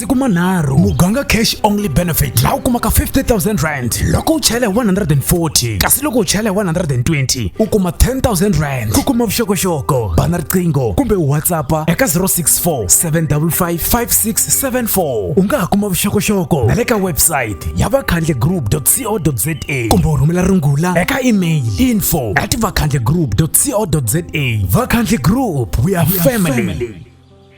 masiku manharhu muganga cash only benefit laha u kumaka 50000 rand loko u chela hi 140 kasi loko u chela hi 120 u kuma 10000 rand ku kuma vuxokoxoko bana riqingho kumbe u whatsappa eka 064 755 5674 u nga ha kuma vuxokoxoko na le ka website ya vakhandle group co za kumbe u rhumela rungula eka email info at vakhandle group co za vakhandle group we are family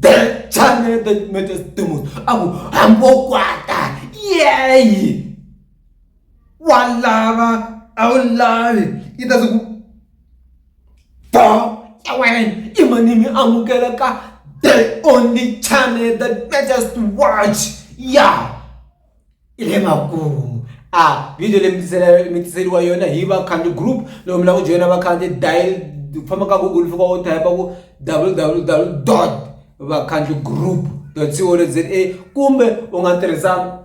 the channel that matters the most aku hambokwata yeyi walava awulavi yi ta siku bo ta wena i manimi amukela ka the only channel that matters to watch ya yeah. i le makumu a video leyi mi mi tiseriwa yona hi vakhandziyi group loko mi lava ku joyina vakhandziyi dial ku famba ka google fika wo type ku www dot vakhandziyi group dot co dot za kumbe u nga tirhisa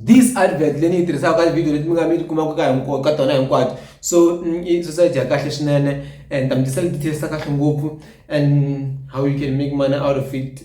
this advert leyi ni yi tirhisaka ka tivhidiyo leti mi nga mi ti kumaka ka hinkwato ka tona hinkwato so i society ya kahle swinene and ta mi tisela details ta kahle ngopfu and how you can make money out of it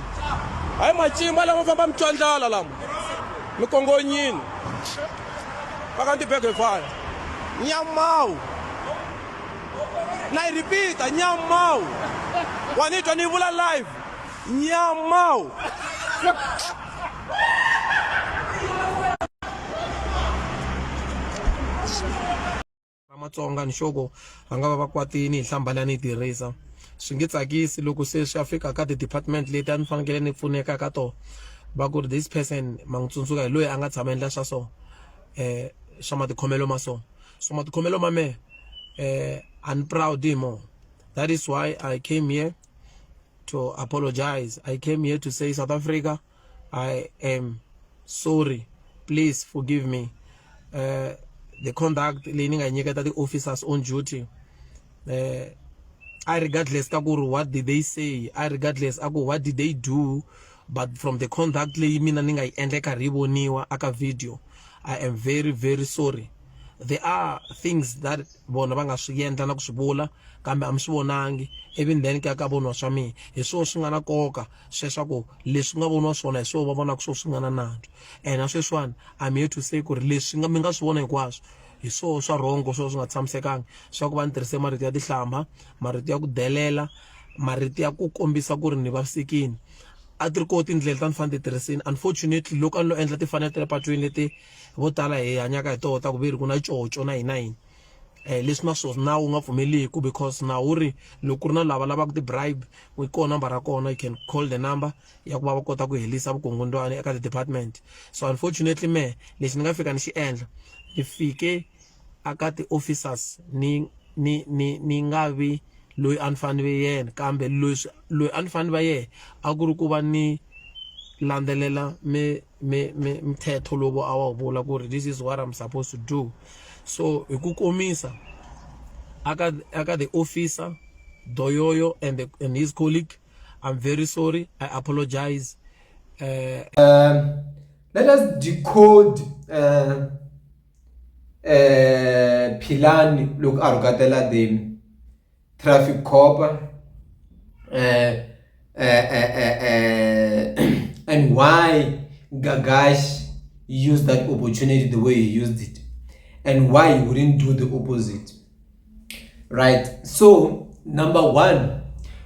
Hayi macimba lama famba mi twandlala lama mi kongonyini paka ndi bege fire nyamawu na yi repeata nyamawu wa ni twa ni vula live nyamawu va matsonga ni xoko va nga va va kwatini hi hlamba leyi a ni yi tirhisa swi nge tsakisi loko se swi ya fika ka ti-department leti a ni fanekele ni pfuneka ka tona va ku ri this person ma n'wi tsundzuka hi loyi a nga tshama endla swa so um swa matikhomelo ma so so matikhomelo ma mehe um a ni proud hi moho that is why i came here to apologize i came here to say south africa I am sorry please forgive me uh, the conduct leyi ni nga nyiketa ti-officers on duty uh, I regardless ka ku ri what did they say I regardless a ku what did they do but from the conduct leyi mina ni nga yi endla karhi yi voniwa aka video I am very very sorry there are things that vona va nga swi endla na ku swi vula kambe a mi swi vonangi ivi then ku ya ka voniwa swa mina hi swona swi nga na nkoka sweswaku leswi nga voniwa swona hi swo va vonaka swo swi nga na nandzu and na sweswiwani i'm here to say ku ri leswi nga mi nga swi vona hinkwaswo hi swoo swa rhongo swo swi nga tshamisekanga swa ku va ni tirhise marito ya tihlamba marito ya ku delela marito ya ku kombisa ku ri ni vavisekini a ti ri koho tindlela ta ni fanele ti tirhisini unfortunately loko a ni lo endla timfanelo ta le patwini leti vo tala hi hanyaka hi toho ta ku ve ri ku na coco na yini na yini Eh, leswi na swona nawu nga pfumeliki because nawu wu ri loko ku ri na lava lavaka ti-bribe yi kona number ra kona you can call the number ya ku va va kota ku helisa vukungundwani eka ti-department so unfortunately me lexi ni nga fika ni xi endla ni fike aka ti-officers ni ni ni ni nga vi loyi a ni fanele ve yena kambe leswi loyi a ni fanele va yena a ku ri ku va ni landzelela mi mithetho lowu a wu vula ku ri this is what I'm supposed to do so hi ku komisa aka aka the officer Doyoyo and, the, and his colleague I'm very sorry I apologize uh, um, let us decode uh, uh, Philani look a rhukatela them Traffic Copa, é, é, é, and why Gagash used that opportunity the way he used it, and why he wouldn't do the opposite. Right? So, number one,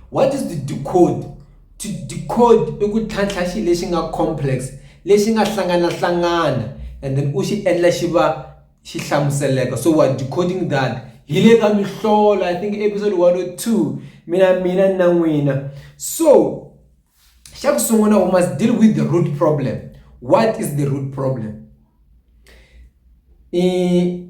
what is the decode? To decode i ku tlhantlha xi lexi nga complex lexi nga hlangana hlangana and then u xi endla xi va xihlamuseleka so what decoding that hi le ka mihlola i think episode 102 mina mina na n'wina so xa ku sungula we must deal with the root problem what is the root problem i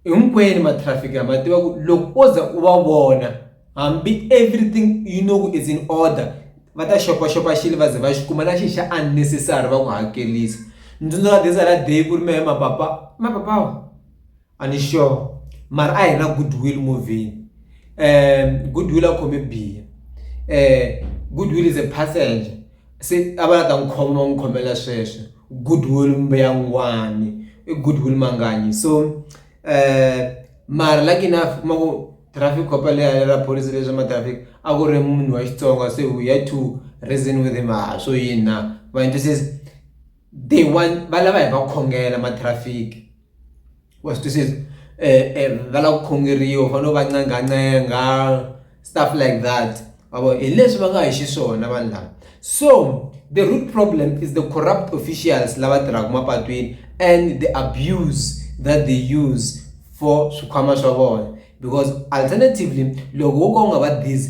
hinkwenu ma traffic ma tiva ku loko o za u va vona hambi everything you know is in order va ta xopaxopa xilo va ze va xi kuma na xi xa unnecessary va ku hakelisa ntsundzuka this other day ku ri mehe mapapa mapapa a ni sure mara a hi na good will movie good will a khome biha good will is a passenger Se a va la ta n'wi khoma va n'wi khomela sweswo goodwill mbuyangwani i goodwill manganyi so um mara lucky enough kuma ku traffic cop leri ra pholisi leswa ma traffic a ku ri munhu wa Xitsonga se we had to reason with him ha swo yini na ma . they want va lava hi va khongela ma traffic wa swi twisisa va lava ku khongeriwa u fanele u va ncengancenga stuff like that ma vo hi leswi va nga hi xiswona vanhu lava so the root problem is the corrupt officials lava tirhaka mapatwini and the abuse that they use for swikhwama swa vona because alternatively loko wo ka u nga va busy.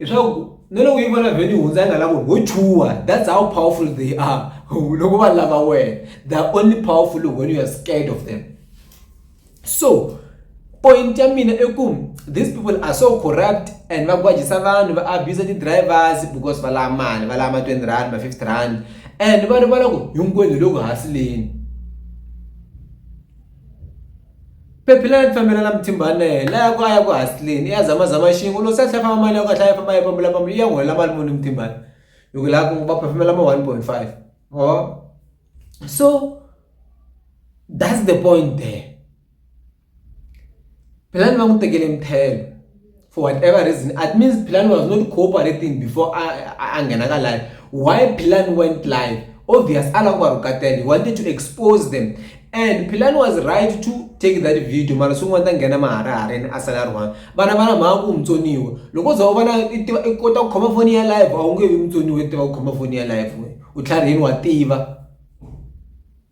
leswaku na loko yi vona vhele yi hundza yi nga lavo ho chuha that's how powerful they are loko va lava wena they are only powerful when you are scared of them so point ya mina i ku these people are so corrupt and va gwajisa vanhu va abuser ti-drivers because va lava mali va lava ma twenty rand ma fifty rand and va rivala ku hinkwenu hi le ku hasileni Phephile a fambela na Mthimbane la ya ku a ya ku hasleni ya zama zama xin'we loko se a tlhela famba mali ya ku a tlhela a famba a yi pambula pambula yi ya n'wi helela mali muni Mthimbane hi ku la ku va phefemela ma one point five or so that's the point there phelani va n'wi tekele mthelo. for whatever reason it means Philani was not cooperating before a nghena ka live why Philani went live obvious ala ku va rhukatela he wanted to expose them and Philani was right to take that video mara swin'wana ta nghena maharahareni a sala ri one vana va na mhaka ku mutsoniwa loko za u vona i tiva i kota ku khoma foni ya live a wu nge vi mutsoniwa i tiva ku khoma foni ya live wena u tlharihini wa tiva.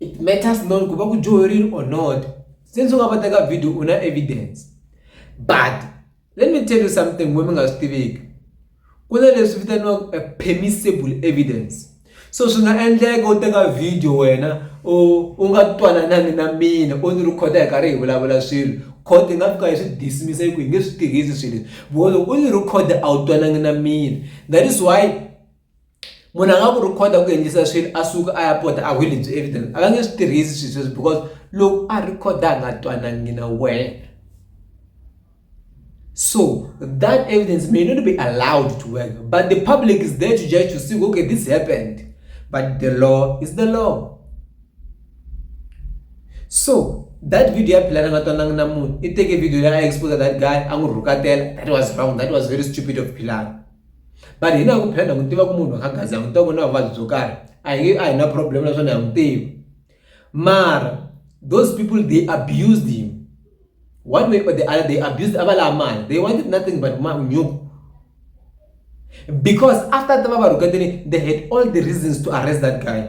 it matters not ku va ku dyoherile or not since u nga va teka video u na evidence but let me tell you something mo mi nga swi tiviki ku na leswi vitaniwaka permissible evidence so swi nga endleka u teka video wena u u nga twananangi na mina u ni rhikhoda hi karhi hi vulavula swilo court yi nga fika yi swi dismisa yi ku yi nge swi tirhisi swilo leswi because loko u ni rhikhoda a wu twanangi na mina that is why munhu a nga ku rhikhoda ku endlisa swilo a suka a ya pota a hwile byi evidence a va nge swi tirhisi swilo sweswo because loko a rhikhoda a nga twanangi na wena so that evidence may not be allowed to work but the public is there to judge to see okay this happened but the law is the law so that video ya philana nga twanangi na munhu i teke video leyi a expose that guy a n'wi rhukatela that was wrong that was very stupid of philana but hina hi ku phenda ku tiva ku munhu a nga za mutwa ku na vuvabyi byo karhi a hi a hi na problem naswona ha n'wi tivi mara those people they abused him one way or the other they abused a va lava mali they wanted nothing but nyuku because after va va rhuketini they had all the reasons to arrest that guy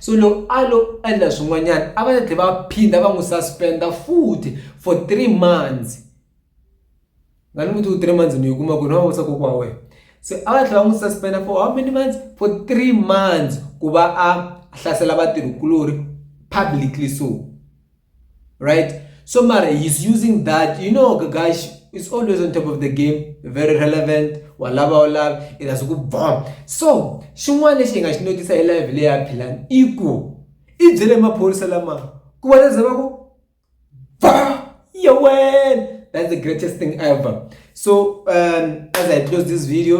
So loko a lo endla swin'wanyana a va ta tlhela va phinda va n'wi suspend futhi for three months nga ni muti wu three months ni yi kuma ku na va vutisa kokwa wena se a va tlhela va n'wi suspend for how many months for three months ku va a hlasela vatirhikuloni publicly so. right so mara he's using that you know gagashi is always on top of the game very relevant walava walava it has ku bomb so xin'wana lexi hi nga xi notisa hi live leyi ya philani i ku i byele maphorisa lama ku va leza va ku yewena that's the greatest thing ever so um, as i close this video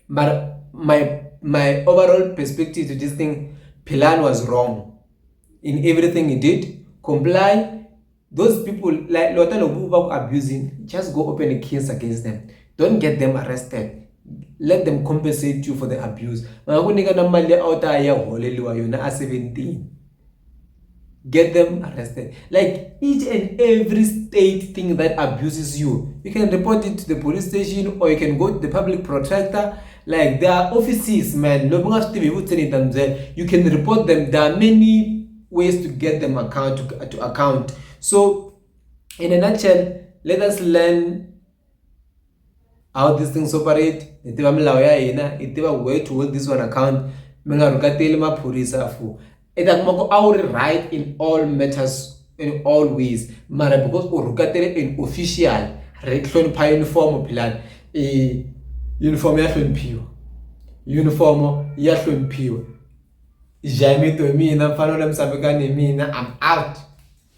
but my my overall perspective to this thing Pilan was wrong. in everything he did comply those people like lota lobu va ku abusing just go open a case against them don't get them arrested let them compensate you for the abuse va nga ku nyika na mali a wu ta ya holeliwa yona a 17 get them arrested like each and every state thing that abuses you you can report it to the police station or you can go to the public protector Like there are offices man lomu nga swi tivi hi vutseni hi ta mi byela you can report them there are many ways to get them account to, to account so in a nutshell let us learn how these things operate hi tiva milawu ya hina hi tiva way to hold this one account mi nga rhukateli maphorisa for i ta kuma ku a wu ri right in all matters in all ways mara because u rhukatele in official ri hlonipha uniform philani i uniform ya hloniphiwa uniform ya hloniphiwa jamito mina mfanelo misavekani mina i'm out